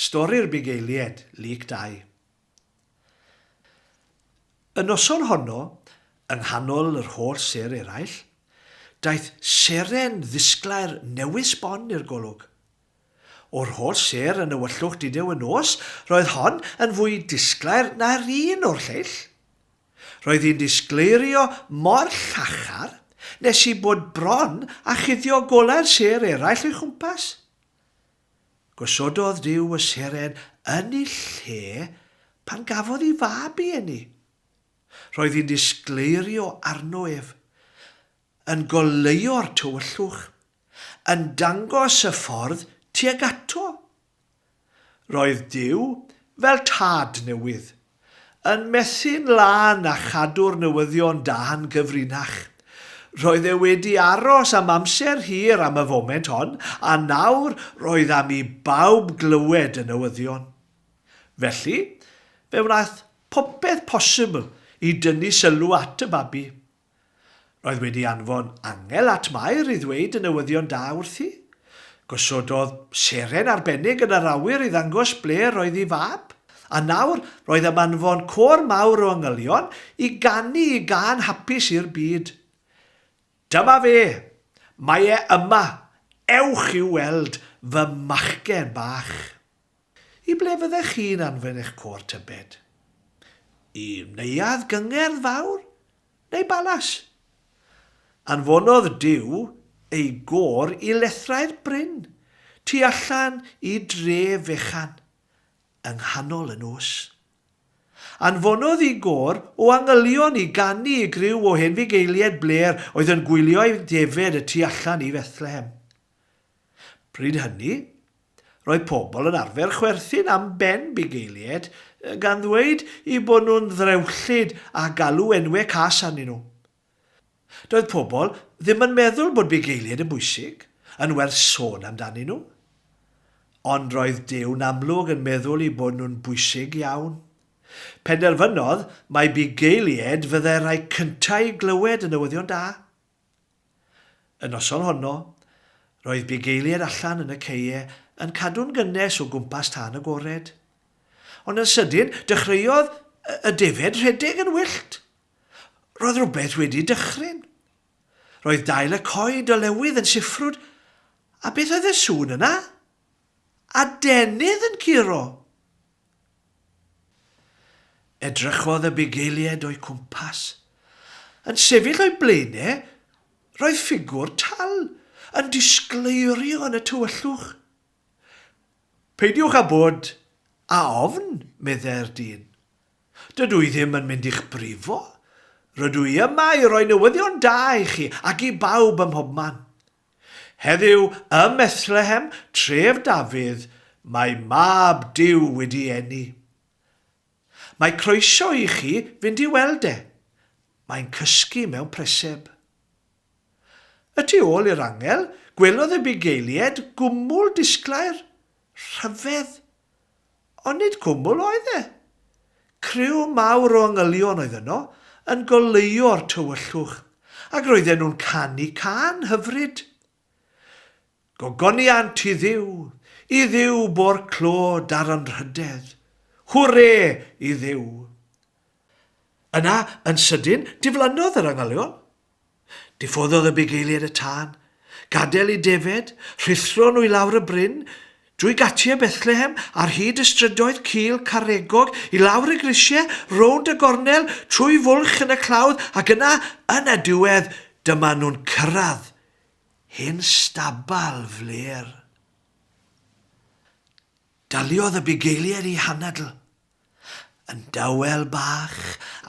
Stori'r Bugeilied, Lyc Dau. Y noson honno, yng nghanol yr holl sêr eraill, daeth seren ddisglair newydd sbon i'r golwg. O'r holl sêr yn ewyllwch didew y nos, roedd hon yn fwy disglair na'r un o'r lleill. Roedd hi'n disgleirio mor llachar nes i bod bron â chuddio golau'r sêr eraill o'i chwmpas. Gosododd Duw y seren yn ei lle pan gafodd ei fab i eni. Roedd hi'n disgleirio arno ef, yn goleuo'r tywyllwch, yn dangos y ffordd tuag ato. Roedd Duw fel tad newydd, Yn methu'n lân a chadw'r newyddion da'n gyfrinach. Roedd e wedi aros am amser hir am y foment hon, a nawr roedd am i bawb glywed y newyddion. Felly, fe wnaeth popeth posibl i dynnu sylw at y babi. Roedd wedi anfon angel at Mair i ddweud y newyddion da wrthi. Gosododd seren arbennig yn yr awyr i ddangos ble roedd ei fab. A nawr, roedd am anfon côr mawr o angylion i ganu i gân hapus i'r byd. Dyma fe! Mae e yma! Ewch i'w weld, fy machgen bach! I ble fyddech chi'n anfon eich côr tybed? I neuadd gyngerdd fawr neu balas? Anfonodd Duw ei gôr i lethrau'r bryn, tu allan i dre fechan, yng nghanol y nos. Anfonodd i gôr o angylion i ganu i griw o hen fugeiliaid blêr oedd yn gwylio ei defaid y tu allan i Fethlehem. Bryd hynny, Roedd pobl yn arfer chwerthin am Ben Bigayliet, gan ddweud eu bod nhw'n ddrewllyd a galw enwau cas arnyn nhw. Doedd pobl ddim yn meddwl bod Bigayliet yn bwysig, yn werth sôn amdanyn nhw. Ond roedd Dew'n amlwg yn meddwl eu bod nhw'n bwysig iawn. Penderfynodd mai Bigayliet fyddai'r rhai cyntaf i glywed y newyddion da. Y noson honno, roedd bugeiliaid allan yn y caeau yn cadw'n gynnes o gwmpas tân agored. Ond yn sydyn, dechreuodd y defaid rhedeg yn wyllt. Roedd rhywbeth wedi dychryn. Roedd dail y coed o lewydd yn siffrwd, a beth oedd y sŵn yna? Adenydd yn curo! Edrychodd y bugeiliaid o'u cwmpas. Yn sefyll o'i blaen e, roedd ffigwr tal yn disgleirio yn y tywyllwch. Peidiwch â bod â ofn, meddai'r dyn. Dydw i ddim yn mynd i'ch brifo. Rydw i yma i roi newyddion da i chi ac i bawb ym mhobman. Heddiw ym Methlehem, tref Dafydd, mae Mab Duw wedi eni. Mae croeso i chi fynd i weld e. Mae'n cysgu mewn preseb. Y tu ôl i'r angel, gwelodd y bugeiliaid gwmwl disglair, rhyfedd, Ond nid cwmwl oedd e. Criw mawr o angylion oedd yno, yn goleuo o'r tywyllwch, ac roedden nhw'n canu cân hyfryd. Gogoniant i Dduw, i Dduw bo'r clo dar anrhydedd. Hwre i Dduw! Yna, yn sydyn, diflannodd yr angylion. Diffoddodd y bugeiliaid y tân, gadael i defaid rhuthro nhw i lawr y bryn, drwy gatiau Bethlehem, ar hyd y strydoedd cul caregog, i lawr y grisiau, rownd y gornel, trwy fwlch yn y clawdd, ac yna, yn y diwedd, dyma nhw'n cyrraedd hen stabal flêr. Daliodd y bugeiliaid i hanadl. Yn dawel bach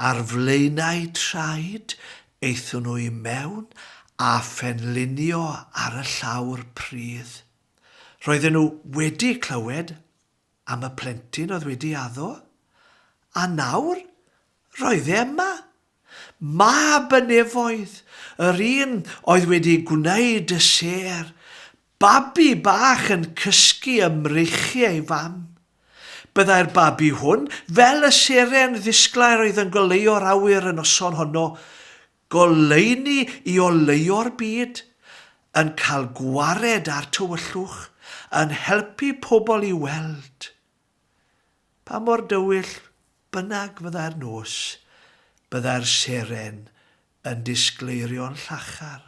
ar flaenau traed, aethon nhw i mewn a phenlinio ar y llawr pridd. Roedden nhw wedi clywed am y plentyn oedd wedi addo, a nawr roedd e yma, Mab y nefoedd, yr un oedd wedi gwneud y sêr, babi bach yn cysgu ym mreichiau ei fam. Byddai'r babi hwn, fel y seren ddisglair oedd yn goleuo'r awyr y noson honno, goleuni i oleuo'r byd, yn cael gwared â'r tywyllwch, yn helpu pobl i weld. Pa mor dywyll bynnag fyddai'r nos, byddai'r seren yn disgleirio'n llachar.